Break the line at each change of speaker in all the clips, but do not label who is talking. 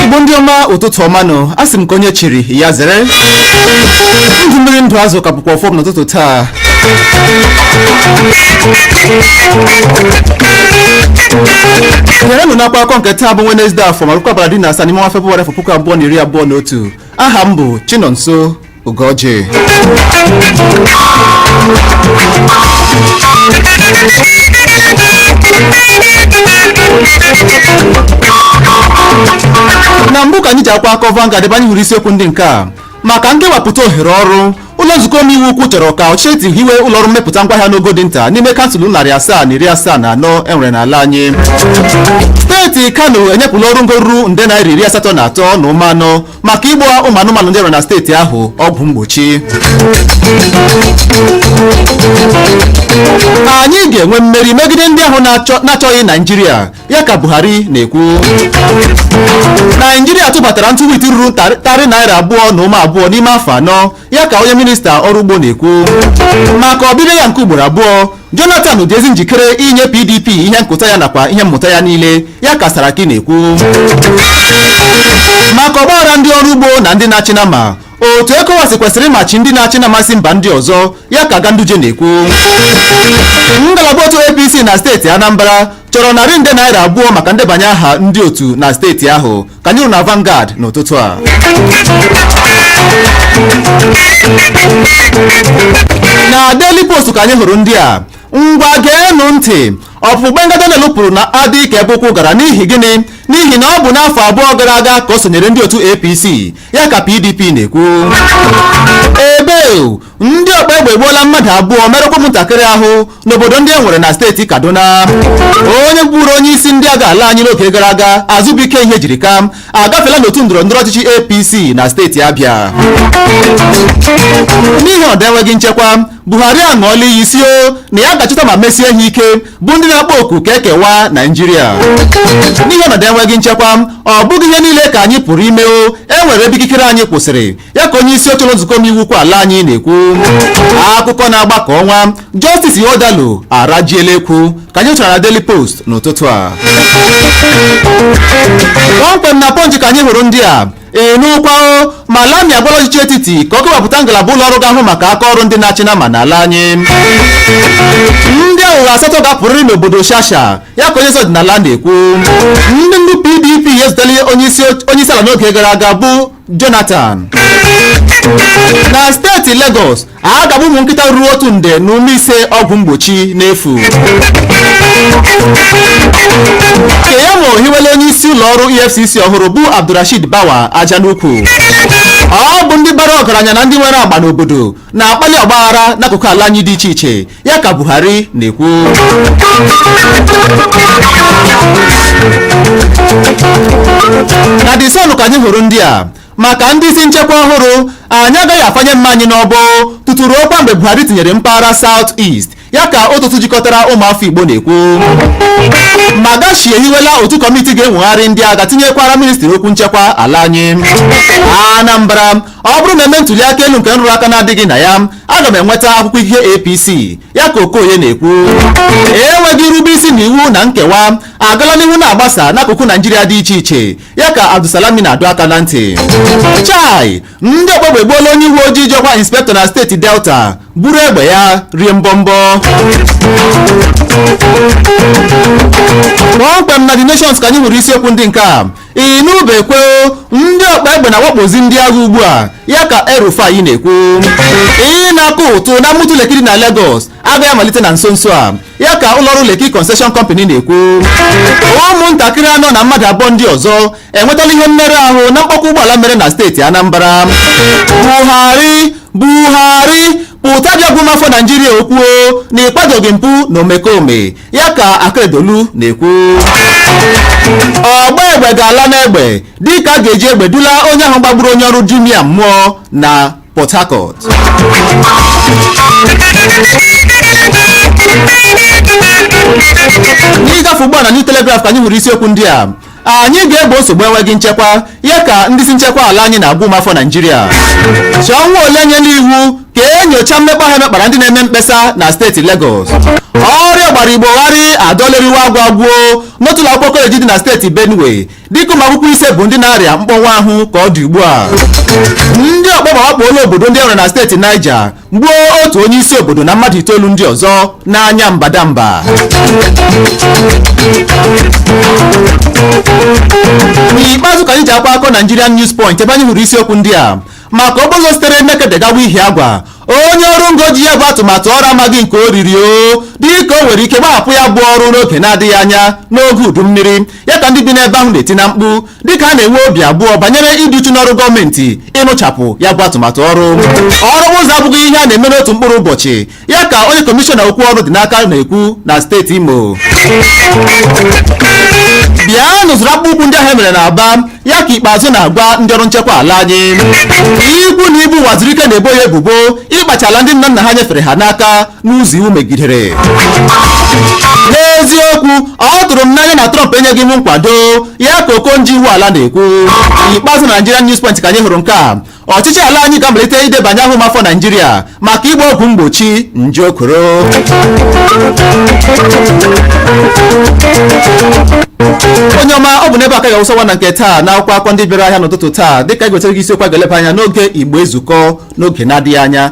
igbo ndị ọma ụtụtụ ọma nụ a sị m ka onye chiri ya zere ndụ mmiri ndụ azụ ka bụkwa ọfọ m n'ụtụtụ taa gerenụ n'akwa akọ nke taa bụ Wednesday afọ ma bụrụkwa abalị iri na asaa n'ime ọnwa Febụwarị afọ puku abụọ na iri abụọ na otu aha m bụ Chinonso Ugoji na mbụ ka anyị ji akwa akọ Vanguard ebe anyị hụrụ isiokwu ndị nke a maka nkewapụta ohere ọrụ Ụlọ nzukọ omeiwu ukwu chọrọ ka ọchịchị etiti hiwe ụlọọrụ mmepụta ngwaahịa n'ogo dị nta n'ime kansụl narị asaa na iri asaa na anọ e nwere n'ala anyị steeti kano enyepụla ọrụ ngo ruru nde naira iri asatọ na atọ na ụma anọ maka ịgba ụmụ anụmanụ ndị e nwere na steeti ahụ ọgwụ mgbochi anyị ga-enwe mmeri megide ndị ahụ na-achọghị naijiria ya ka buhari na-ekwu naijiria tụbatara ntụ wit ruru tarị naira abụọ na ụma abụọ n'ime afọ anọ ya ka onye minista ọrụ ugbo na-ekwu maka ọbịbịa ya nke ugboro abụọ jonathan dị ezi njikere inye pdp ihe nkụta ya nakwa ihe mmụta ya niile ya ka saraki na-ekwu maka ọgbaghara ndị ọrụ ugbo na ndị na-achị nama otu ECOWAS kwesịrị ịmachi ndị na-achị nama si mba ndị ọzọ ya ka Ganduje na-ekwu ngalaba otu APC na steeti Anambra chọrọ narị nde naira abụọ maka ndebanye aha ndị otu na steeti ahụ ka anyị hụrụ na Vanguard n'ụtụtụ a na Daily Post ka anyị hụrụ ndị a ngwa geenụ ntị ọpụpụ Gbenga Daniel pụrụ na-adị ka ebe ụkwụ gara n'ihi gịnị n'ihi na ọ bụ n'afọ abụọ gara aga ka o sonyere ndị otu APC ya ka PDP na-ekwu ebe ndị ọkpa egbe egbuola mmadụ abụọ merụkwa ụmụntakịrị ahụ n'obodo ndị e nwere na steeti kaduna onye bụburu onye isi ndị agha ala anyị n'oge gara aga Azubuike Ihejirika agafela n'otu ndọrọ ndọrọ ọchịchị apc na steeti abịa n'ihi ọnọdụ enweghị nchekwa buhari aṅụọla iyi sị o na ya ga-achọta ma mesie ha ike bụ ndị na-akpọ oku ka e kewaa naijiria n'ihi ọnọdụ enweghị nchekwa ọ bụghị ihe niile ka anyị pụrụ ime o e nwere ebe ikikere anyị kwụsịrị ya ka onye isi oche ụlọ nzukọ omeiwu ukwu ala anyị na-ekwu akụkọ na-agba ka ọnwa Justice Ihodalu arajiela ekwu ka anyị hụchara na Daily Post n'ụtụtụ a kpọmkwem na Punch ka anyị hụrụ ndị a ị nụkwa o Malami agwala ọchịchị etiti ka ọ kewapụta ngalaba ụlọ ọrụ ga-ahụ maka aka ọrụ ndị na-achị nama n'ala anyị ndị aghụghọ asatọ ga-apụrịrị n'obodo shasha ya ka onye isi ọdịnala na-ekwu ndị ndu pdp ezutela onye isi ala n'oge gara aga bụ Jonathan na steeti Lagos a ga-agba ụmụ nkịta ruru otu nde na ụma ise ọgwụ mgbochi n'efu Keyamo hiwela onye isi ụlọ ọrụ EFCC ọhụrụ bụ Abdulrasheed Bawa aja n'ukwu ọ bụ ndị bara ọgaranya na ndị nwere agba n'obodo na-akpali ọgbaghara n'akụkụ ala anyị dị iche iche ya ka buhari na-ekwu na the sun ka anyị hụrụ ndị a maka ndị isi nchekwa ọhụrụ anyị agaghị afanye mma anyị n'ọbọ tutu ruokwa mgbe buhari tinyere mpaghara south east ya ka otu otu jikọtara ụmụafọ igbo na-ekwu magashi ehiwela otu kọmiti ga-enwegharị ndị agha tinyekwara ministri okwu nchekwa ala anyị anambra ọ bụrụ na eme ntuli aka elu nke nrụrụ aka na-adịghị na ya aga m enweta akwụkwọ ikike APC ya ka Okoye na-ekwu enweghị irube isi na iwu na nkewa agala n'ihu na-agbasa n'akụkụ Naijiria dị iche iche ya ka Abdulsalami na-adọ aka na ntị chai ndị ọkpa egbe egbuola onye uwe ojii ji ọkwa inspektọ na steeti Delta buru egbe ya rie mbọmbọ kpọmkwem na The Nations ka anyị hụrụ isiokwu ndị nke a ị nụbekwe ndị ọkpa egbe na-awakpozi ndị agha ugbu a ya ka El-Rufai na-ekwu ịnakọ ụtụ n'ọnụ ụtụ Lekki dị na Lagos agaghị amalite na nso nso a ya ka ụlọọrụ Lekki Concession Company na-ekwu ụmụntakịrị anọ na mmadụ abụọ ndị ọzọ enwetala ihe mmerụ ahụ na mkpọkọ ụgbọala mere na steeti Anambra Buhari Buhari pụta bịa gwa ụmụafọ Naijiria okwu o na ị kwadoghị mpụ na omekome ya ka akeredolu na-ekwu ọgba egbe ga-ala n'egbe dịka a ga-eji egbe dula onye ahụ gbagburu onye ọrụ jumia mmụọ na port harcourt n'ịgafe ugbu a na new telegraph ka anyị hụrụ isiokwu ndị a anyị ga-egbo nsogbu enweghị nchekwa ya ka ndị isi nchekwa ala anyị na-agwa ụmụafọ naijiria sanwo-olu enyela iwu ka e nyochaa mmekpa ahụ e mekpara ndị na-eme mkpesa na steeti legọs ọrịa gbara igbo gharị adọla eriwe agwụ agwụ n'otu ụlọ akwụkwọ koleji dị na steeti benue dịka ụmụ akwụkwọ ise bụ ndị na-arịa mkpọnwụ ahụ ka ọ dị ugbu a ndị ọkpa egbe awakpoola obodo ndị e nwere na steeti niger gbuo otu onye isi obodo na mmadụ itoolu ndị ọzọ n'anya mbadamba n'ikpeazụ ka anyị ji akwa akọ Nigerian News Point ebe anyị hụrụ isiokwu ndị a maka okporo ụzọ sitere Nekede gawa Ihiagwa onye ọrụ ngo ji ya bụ atụmatụ ọrụ amaghị nke o riri o dịka o nwere ike gbahapụ ya bụ ọrụ n'oge na-adịghị anya n'oge udu mmiri ya ka ndị bi n'ebe ahụ na-eti na mkpu dịka a na-enwe obi abụọ banyere ịdị uchu n'ọrụ gọọmenti ịrụchapụ ya bụ atụmatụ ọrụ ọrụ ụzọ abụghị ihe a na-eme n'otu mkpụrụ ụbọchị ya ka onye kọmishọna okwu ọrụ dị n'aka na-ekwu na steeti imo bịanụ zụrụ akpụkpọ ụkwụ ndị ahụ e mere na aba ya ka ikpeazụ na-agwa ndị ọrụ nchekwa ala anyị ikwu na ibe uwazuruike na-ebo ya ebubo ịkpacha ala ndị nna nna ha nyefere ha n'aka n'ụzọ iwu megidere n'eziokwu ọ tụrụ m n'anya na Trump enyeghị m nkwado ya ka okonjo iweala na-ekwu n'ikpeazụ na Nigerian News Point ka anyị hụrụ nke a ọchịchị ala anyị ga-amalite idebanye aha ụmụafọ naijiria maka ịgba ọgwụ mgbochi nje okoro onye ọma ọ bụ n'ebe a ka a ga-awụsa ọwa na nke taa na akwụkwọ akụkọ ndị bịara ahịa n'ụtụtụ taa dịka a ga-ewetara gị isiokwu a ga-eleba anya n'oge igbo ezukọ n'oge na-adịghị anya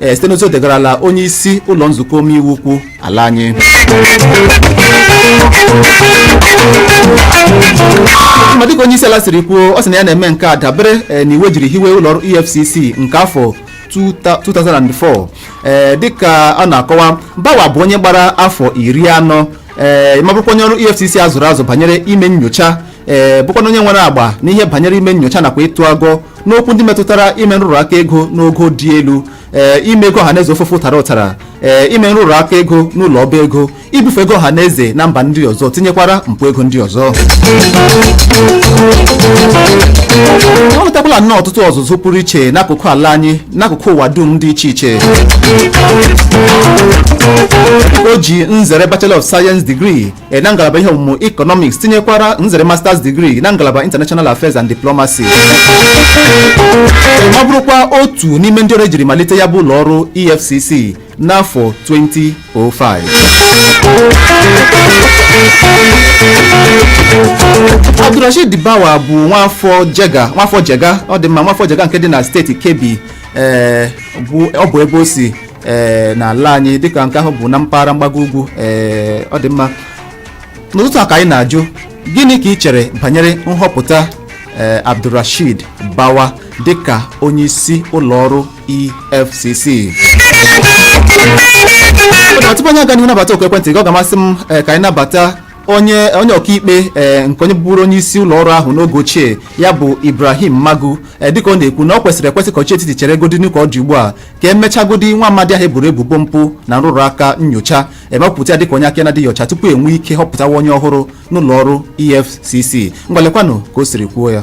ee site n'ozi o degarala onye isi ụlọ nzukọ omeiwu ukwu ala anyị ma dịka onye isi ala siri kwuo ọ sị na ya na-eme nke a dabere eh, n'iwu e jiri hiwe ụlọ ọrụ efcc nke afọ 2004 ee dịka a na-akọwa bawa bụ onye gbara afọ iri anọ ee ma bụrụkwa onye ọrụ efcc a zụrụ azụ banyere ime nyocha ee bụkwanụ onye nwere agba n'ihe banyere ime nyocha nakwa ịtụ agọ n'okwu ndị metụtara ime nrụrụ aka ego n'ogo dị elu ee ime ego ọhaneze ofụfụ tara ụtara ee ime nrụrụ aka ego n'ụlọ ọba ego ibufe ego ọhaneze na mba ndị ọzọ tinyekwara mpụ ego ndị ọzọ o nwetakwala nnọọ ọtụtụ ọzụzụ pụrụ iche n'akụkụ ala anyị n'akụkụ ụwa dum dị iche iche o ji nzere bachelor of science degree e, na ngalaba ihe ọmụmụ Economics tinyekwara nzere Masters degree na ngalaba International Affairs and Diplomacy ma bụrụkwa otu n'ime ndị ọrụ e jiri malite ya bụ ụlọ ọrụ EFCC n'afọ 2005 Abdulrasheed Bawa bụ nwafọ Jega ọ dị mma nwafọ Jega nke dị na steeti Kebbi ee bụ ọ bụ ebe o si ee n'ala anyị dịka nke ahụ bụ na mpaghara mgbago ugwu ee ọ dị mma n'ụtụtụ a ka anyị na-ajụ gịnị ka i chere banyere nhọpụta ee abdulrasheed bawa dịka onye isi ụlọ ọrụ efcc tupu anyị aga n'ihu nabata oku ekwentị gị ọ ga-amasị m ee, ka anyị nabata onye onye ọkaikpe ee nke onye bụburu onye isi ụlọ ọrụ ahụ n'oge ochie ya bụ ibrahim magu ee dịka ọ na-ekwu na o kwesịrị ekwesị ka ọchịchị etiti cheregodinụ ka ọ dị ugbu a ka e mechagodi nwa amadi ahụ e boro ebubo mpụ na nrụrụ aka nyocha ma kwupụta ya dịka onye aka na-adịghị ọcha tupu e nwee ike họpụtawa onye ọhụrụ n'ụlọ ọrụ efcc ngwa lekwanụ ka o siri kwuo ya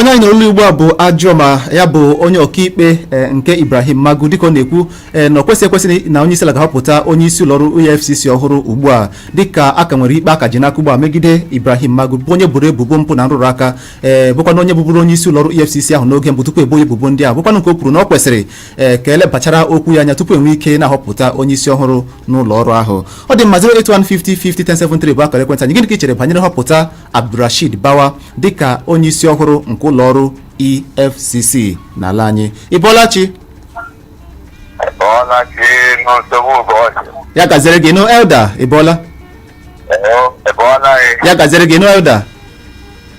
onye anyị nụrụ olu ya ugbu a bụ ojaomo ya bụ onye ọkaikpe eh, nke ibrahim magu dịka ọ na-ekwu eh, na ọ kwesịghị ekwesị na onye isi ala ga-ahọpụta onye isi ụlọọrụ efcc ọhụrụ ugbu a dịka a ka nwere ikpe a ka ji n'aka ugbu a megide ibrahim magu bụ onye e boro ebubo mpụ na nrụrụ aka ee bụkwanụ onye bụbụrụ onye isi ụlọọrụ efcc ahụ n'oge mbụ tupu e bo ya ebubo ndị a bụkwanụ nke o kwuru na ọ kwesịrị ee ka elebachara okwu ya anya tupu enwe ike na-ahọpụta onye isi ọhụrụ n'ụlọ ọrụ ahụ ọ dị mma 08150501073 bụ akara ekwentị anyị gịnị ka ị chere banyere nhọpụta abdulrashid bawa dịka onye isi ọhụrụ nke ụlọ ọrụ efcc n'ala anyị ị bọọla chi Ọla ka enu nsogbu ụbọchị. ya gaziere gị nnọọ elder ị bọọla Ee, ebe ọ naghị ya gaziere gị nnọọ elder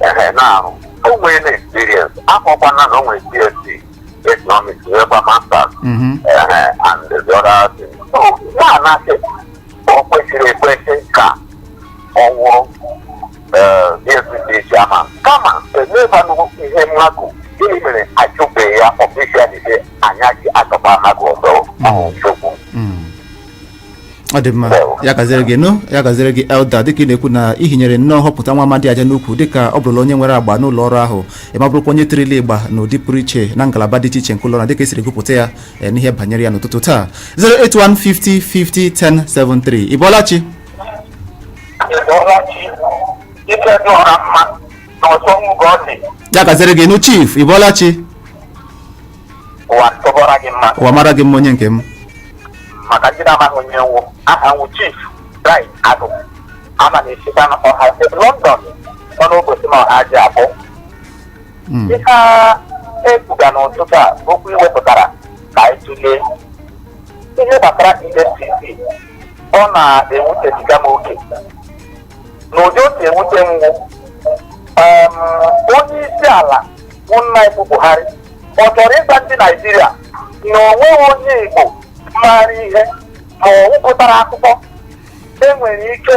ehe na-ahụ o nwere na experience akọkwa na o nwere BSc economics nwekwa masters Mhm. ehe and the other thing so a na-asị o kwesịrị ekwesị ka ọ wụrụ EFCC chairman kama emebanụ ihe magu gịnị mere achụbeghị ya officially anya ji achọba mmadụ ọzọ ọhụrụ nsogbu Mm.
ọ dị mma ya gaziere gị nnọọ ya gaziere gị elder dịka ị na-ekwu na i hinyere nnọọ nhọpụta nwa amadi a aja n'ukwu dịka ọ bụrụla onye nwere agba n'ụlọ ọrụ ahụ ma bụrụkwa onye tirila ịgba n'ụdị pụrụ iche na ngalaba dị iche iche nke ụlọ ọrụ na dịka esiri gụpụta ya eh, n'ihe banyere ya n'ụtụtụ taa 08150501073 ị bọọla chi Ị bọọla chi ike dị ọra mma na ọsọ nwụgọ dị ya gaziere gị nnọọ chief ị bọọla chi ụwa tụbọra gị mma ụwa mara gị mma onye nke m
maka ndị na-amaghị onye m wụ aha m wụ chief bright agụ ama na-esikwa na ọha steeti london nọ n'obosima ohaji akpọ Mm. ihe a ekwuga n'ụtụtụ a okwu i wepụtara ka anyị tụlee ihe gbasara efcc ọ na-ewutebiga m oke n'ụdị o si ewute m wụ em, onye isi ala bụ nna anyị ukwu buhari ọ chọrọ ịgwa ndị naijiria na o nweghị onye igbo maara ihe ma ọ gụpụtara akwụkwọ enwere ike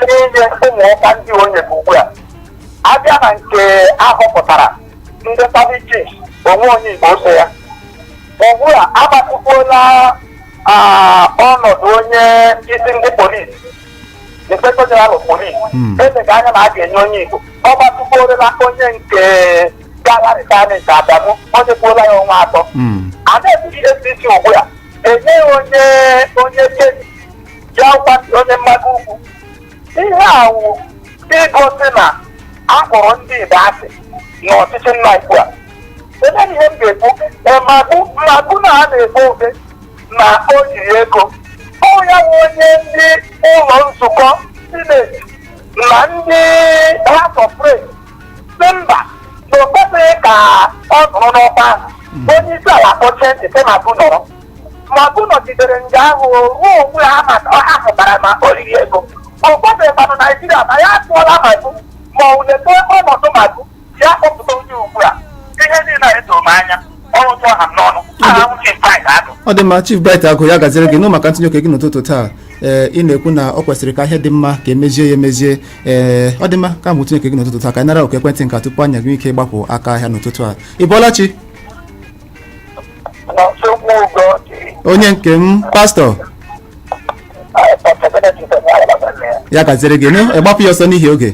inye ụmụ ọkwa ndị o nyere ugbu a abịa na nke ahọpụtara ndị service chiefs o nweghị onye igbo so ya ugbu a agbatịkwuola ah, ọnọdụ onye isi ndị polisi inspector general of police Hmm. elega anya na a ga-enye onye igbo ọ gbatịkwuorola onye nke gara retirement adamu o nyekwuola ya ọnwa atọ Mm. a na-ekwuzi EFCC ugbu a enyeghị onye onye kedi ya gwa onye mmadụ ugwu ihe a wụ igosi na a kpọrọ ndị Igbo asị n'ọchịchị nna anyị ukwu a ele ihe m ga-ekwu ma bụ na a na-ekpo obe na o riri ego ọ ya bụ onye ndị ụlọ nzukọ sineti na ndị house of reps sị mba na o kwesịghị ka ọ nọrọ n'ọkwa ahụ onye isi ala kpọchie ntị sị magu nọrọ magu nọgidere nga ahụ ruo mgbe ha hụtara ma o riri ego ọ gwabeghịkwanụ naijiria ma ya atụọla magu ma ọ wụ olee ọnọdụ magu ya kpọpụta onye ugbu a ihe niile a edoro m anya ọrụ tụọ ha m n'ọnụ aha m Chief Bright Agụ ọ dị mma Chief
Bright Agụ ya gaziere gị nnọọ maka ntụnye oke gị n'ụtụtụ taa ee ị na-ekwu na ọ kwesịrị ka ihe dị mma ka e mezie ya emezie ee ọ dị mma maka ntụnye oke gị n'ụtụtụ taa ka anyị nara oku ekwentị nke a tupu anyị eji ike gbapụ aka ahịa n'ụtụtụ a ị bọọla chi na nsogbu ụgọ dị onye nke m pastọ Pọtọbenetị ya gaziere gị nnọọ gbapụ ya ọsọ n'ihi oge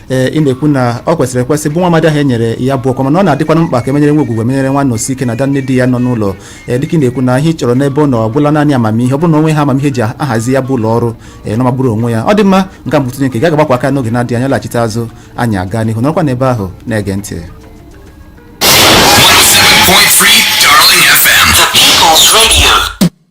ee ị na-ekwu na ọ kwesịrị ekwesị bụ nwa amadi ahụ e nyere ya bụ ọkwa mana ọ na-adịkwanụ mkpa ka e menyere nwa Ogwugwu e menyere nwa Anọsike na ada nne di ya nọ n'ụlọ ee dịka ị na-ekwu na ihe ị chọrọ n'ebe ọ nọ ọ gwụla naanị amamihe ọ bụrụ na o nwee amamihe e ji ahazi ya bụ ụlọ ọrụ ee na ọ magburu onwe ya ọ dị mma maka ntụnye nke gị agbakwa aka n'oge na-adịghị anya laghachite azụ anyị aga n'ihu nọrọkwa n'ebe ahụ na-ege ntị 107.3
Darling FM. The People's Radio.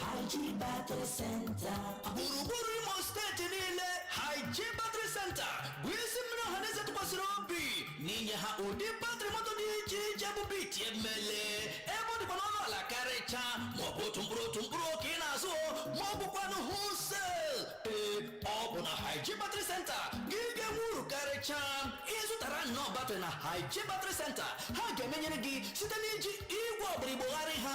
Haji
Battery Center. gburugburu
imo steeti niile haji battery center bụ isi mmiri ọhaneze tụkwasịrị obi n'inye ha ụdị batrị moto dị iche iche bụ biti emele ebe ọ dịkwa n'ọnụ ala karịcha maọbụ otu mkpụrụ otu mkpụrụ ka ị na-azụ ma ọ bụkwanụ wholesale ee ọ bụ na haji battery center gị ga-enwe uru karịcha ịzụtara nnọọ batrị na haji battery center ha ga-emenyere gị site n'iji igwe ọgbara igbo gharị ha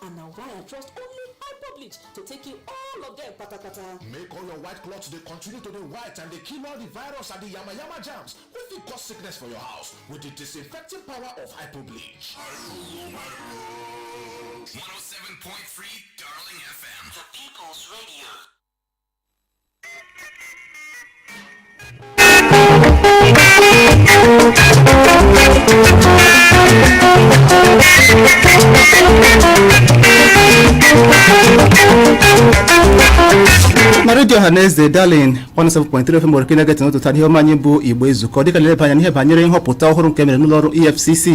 and na why i trust only hyperbleach to take you all of them patapata. make all your white
cloths dey continue to dey white and dey kill all the virus and the yamayama germs wey fit cause sickness for your house with the disinfecting power of hyperbleach. 107.3
Darling FM. The People's Radio.
na redio ọha na eze darling 107.3 fm owere ka ị na-ege ntị n'ụtụtụ a n'ihe omume anyị bụ igbo ezukọ dịka a na-eleba anya n'ihe banyere nhọpụta ọhụrụ nke e mere n'ụlọ ọrụ efcc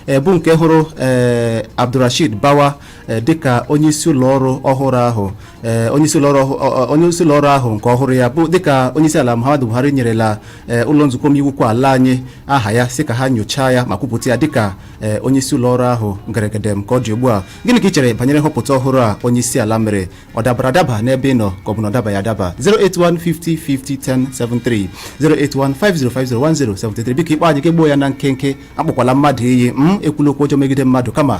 ee bụ nke hụrụ ee abdulrashid bawa eh, dịka onyeisi ụlọọrụ ọhụrụ ahụ eh, onyeisi ụlọọrụ ọhụ- ọ- ọ- onyeisi ụlọọrụ ahụ nke ọhụrụ ya bụ dịka onyeisi ala Muhammadu Buhari nyerela eh, ụlọ nzukọ omeiwu ukwu ala anyị aha ya sị ka ha nyochaa ya ma kwupụta ya dịka eh, onyeisi ụlọọrụ ahụ ngeregedem ka ọ dị ugbu a gịnị ka ị chere banyere nhọpụta ọhụrụ a onyeisi ala mere ọ dabara adaba n'ebe ị nọ ka ọ bụ na ọ dabaghị adaba 08150501073 08150501073 biko ị kpọọ anyị ka e gbuo ya na nkenke akpọkwala mmadụ iyi ekwula okwu ọjọọ megide mmadụ kama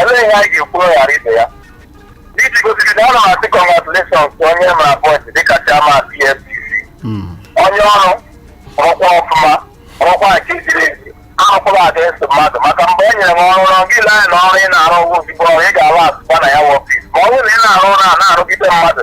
Elee ihe anyị ga-ekwu ghara ibe ya? N'iji gosiri na ana m asị congratulations ka onye ha appoint dịka chairman EFCC. Onye ọrụ rụkwa ọfụma rụkwa nke ziri ezi arụkwala against mmadụ maka mgbe e nyere m ọrụ ọrụ gị lee na ọrụ ị na-arụ ozugbo ọrụ ị ga-arụ asụkwa na your office ma ọ bụrụ na ị na-arụ ọrụ na-arụgide mmadụ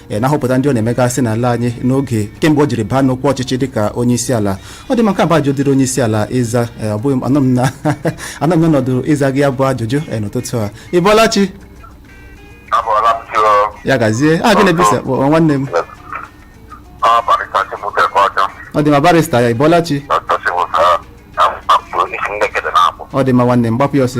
e na nhọpụta ndị ọ na-emegasị n'ala anyị n'oge kemgbe o jiri baa n'okwu ọchịchị dịka onye isi ala ọ dị mma nke a bụ ajụjụ dịrị onye isi ala ịza e, ọ bụghị m- anọ m na anọ m n'ọnọdụ ịza gị ya bụ ajụjụ e, n'ụtụtụ a ị bọọla chi abọọla m chi o ya gaziere gị n'ebe ị si akpọ nwanne m ọ barịsta chibuike ka ọjọ ọ dị mma barịsta ya ị bọọla chi dọkta chibuike na mkpapụ si nekede na-akpọ ọ dị mma nwanne m gbapụ ya ọsọ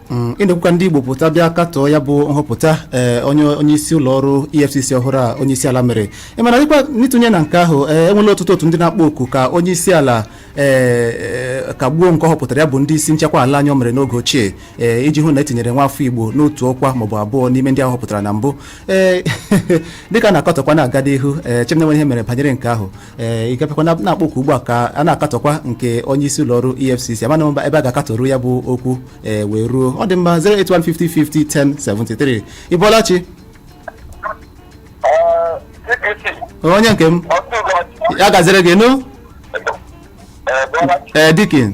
Mm, ị na-ekwukwa ndị igbo pụta bịa katọọ ya bụ nhọpụta ee onye onye isi ụlọ ọrụ efcc ọhụrụ a onye isi ala mere ị mara dịkwa n'ịtụnye na nke ahụ ee enwela ọtụtụ otu ndị na-akpọ oku ka onye isi ala ee ee, kagbuo nke ọ họpụtara ya bụ ndị isi nchekwa ala anyị o mere n'oge ochie ee iji hụ na e tinyere nwa afọ igbo n'otu ọkwa maọbụ abụọ n'ime ndị ahụ ọ họpụtara na mbụ ee dịka a na-akatọkwa na-aga n'ihu echeghị m na e nwere ihe e mere banyere nke ahụ ee ịgapịkwa na na-akpọ oku ugbu a ka a na-akatọkwa nke onye isi ụlọ ọrụ efcc amaghị m ebe a ga-akatọru ya bụ okwu ee wee ruo ọ dị mma 08150501073 ị bọọla chi onye nke m ya gaziere gị nụ ee deacon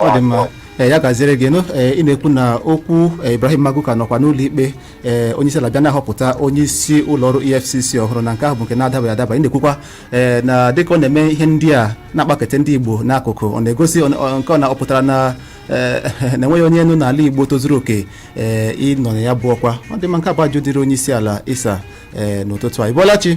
ọ dị mma ee ya gaziere gị nụ ee ị na-ekwu na okwu ee, Ibrahim Magu ka nọkwa n'ụlọ ikpe ee onye isi ala bịa na-ahọpụta onye isi ụlọ ọrụ EFCC ọhụrụ na nke ahụ bụ nke na-adabaghị adaba ị na-ekwukwa ee na dịka ọ na-eme ihe ndị a na-akpakete ndị Igbo n'akụkụ ọ na-egosi ọ- ọ- nke ọ na ọ pụtara na ee, na e nweghị onye nọ n'ala Igbo tozuru oke ee ịnọ na ya bụ ọkwa ọ dị mma nke a bụ ajụjụ dịrị onye isi ala ịza ee n'ụtụtụ a ị bọọla chi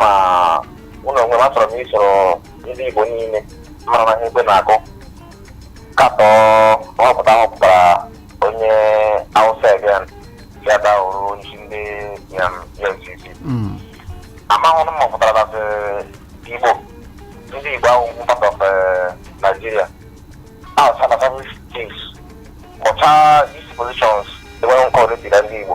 ma mụ n'onwe m achọrọ m isoro ndị Igbo niile mara na ihe ekwe na-akụ katọ nhọpụta a họpụtara onye Hausa again ya dahụrụ onyeisi ndị EFCC amahụ m ma ọ pụtara na Igbo ndị Igbo awụghị part of Nigeria ahọchaala service chiefs kpọchaa these positions enwere nke ọdịdị na ndị Igbo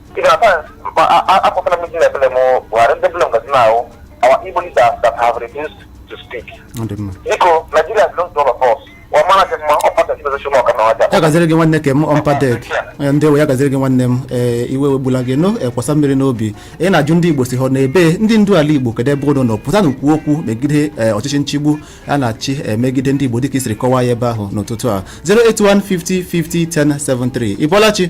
even at times a- a- akpọtara m ndị na-eblame Buhari ndị bụla ngazi na-ahụ our Igbo leaders that have refused to speak. ọ dị mma Biko, Nigeria
belongs to all of us. Ọ mara gị mma, ọ pata gị bezesho n'ọka na ọja. ya gaziere gị nwanne nke m ọmpadek ndị ewe ya gaziere gị nwanne m ee iwe wegbula gị nụ kwasa mmiri n'obi ị na-ajụ ndị igbo si hụ na ebe ndị ndu ala igbo kedu ebe unu nọ pụtanụ kwuo okwu megide ee, ọchịchị nchigbu a na-achị ee, megide ndị igbo dịka i siri kọwaa ya ebe ahụ n'ụtụtụ a 08150501073 ị bọọla chi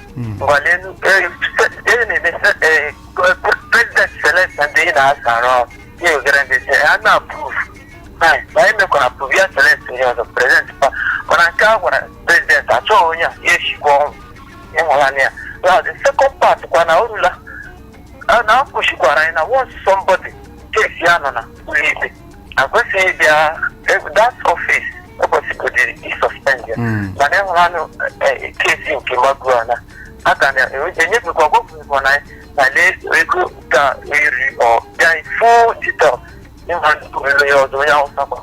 ngwa lenụ eri na-eme president select na ndị na-asara ya ogere ndị si ya na approve na anyị mekwara approve ya select onye ọzọ president pa mana nke a gwara president achọghị onye a ya eshikwa ọnwụ ị hụlanụ ya now the second part kwa na orula na-akụzikwara anyị na once somebody case ya nọ na ụlọikpe akwesịghị ịbịa e- that office ekwesịgodị ịsuspend ya Mm. mana enwere anụ eh, case nke magu a na-aga na enyefekwa gwagwụkwa na na lee ego ka eri ọ bịa full detail ịma ntụrụlo ya ọzọ onye awụsa gba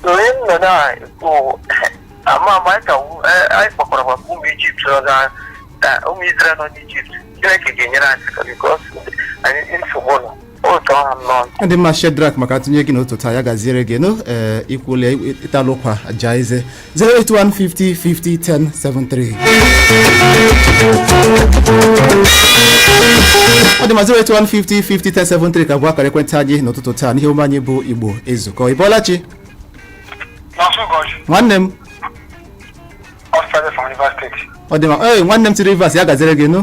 so onye m nọ na-ekwu ama ama anyị ka wu- eh, anyị kpọkwara maka ụmụ ijipt nọ na eh, ụmụ israel nọ n'ijipt chineke ga-enyere anyị aka because anyị nsogbu nọ ụtọ ha nnọọ ọ dị mma shedrak
maka atụnye gị n'ụtụtụ taa ya gaziere gị nụ ee ikwule ịtalụ ụkwa jaa eze 08150501073 ọ dị mma 08150501073 ka bụ akara ekwentị anyị n'ụtụtụ taa n'ihe omume anyị bụ igbo ezukọ ị bọọla chi nwosu ugochi nwanne m nwosu ugochi from rivers state ọ dị mma ee nwanne m si rivers ya gaziere gị nụ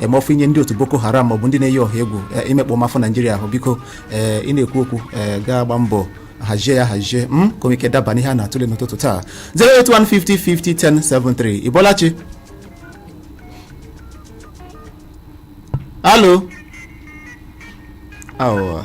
emọfụ inye ndị otu Boko Haram maọbụ ndị na-eyi ọha egwu eh, imekpa ụmụafọ Naijiria ahụ biko eh, ị na-ekwu okwu eh, gaa gbaa mbọ hazie ya hazie m hmm? ka ike daba n'ihe a na-atụle n'ụtụtụ taa 08150501073 ị bọọla chi hello awa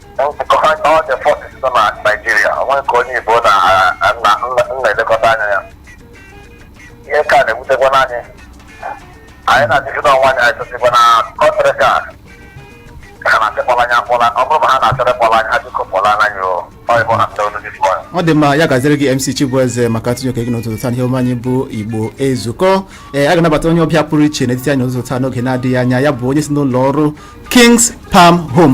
ọ dị mma ya gaziere gị mc chibueze maka atụnye oke gị n'ụtụtụ taa n'ihe omume anyị bụ igbo ezukọ ee a ga-anabata onye ọbịa pụrụ iche n'etiti anyị n'ụtụtụ taa n'oge na-adịghị anya ya bụ onye si n'ụlọ ọrụ kings palm home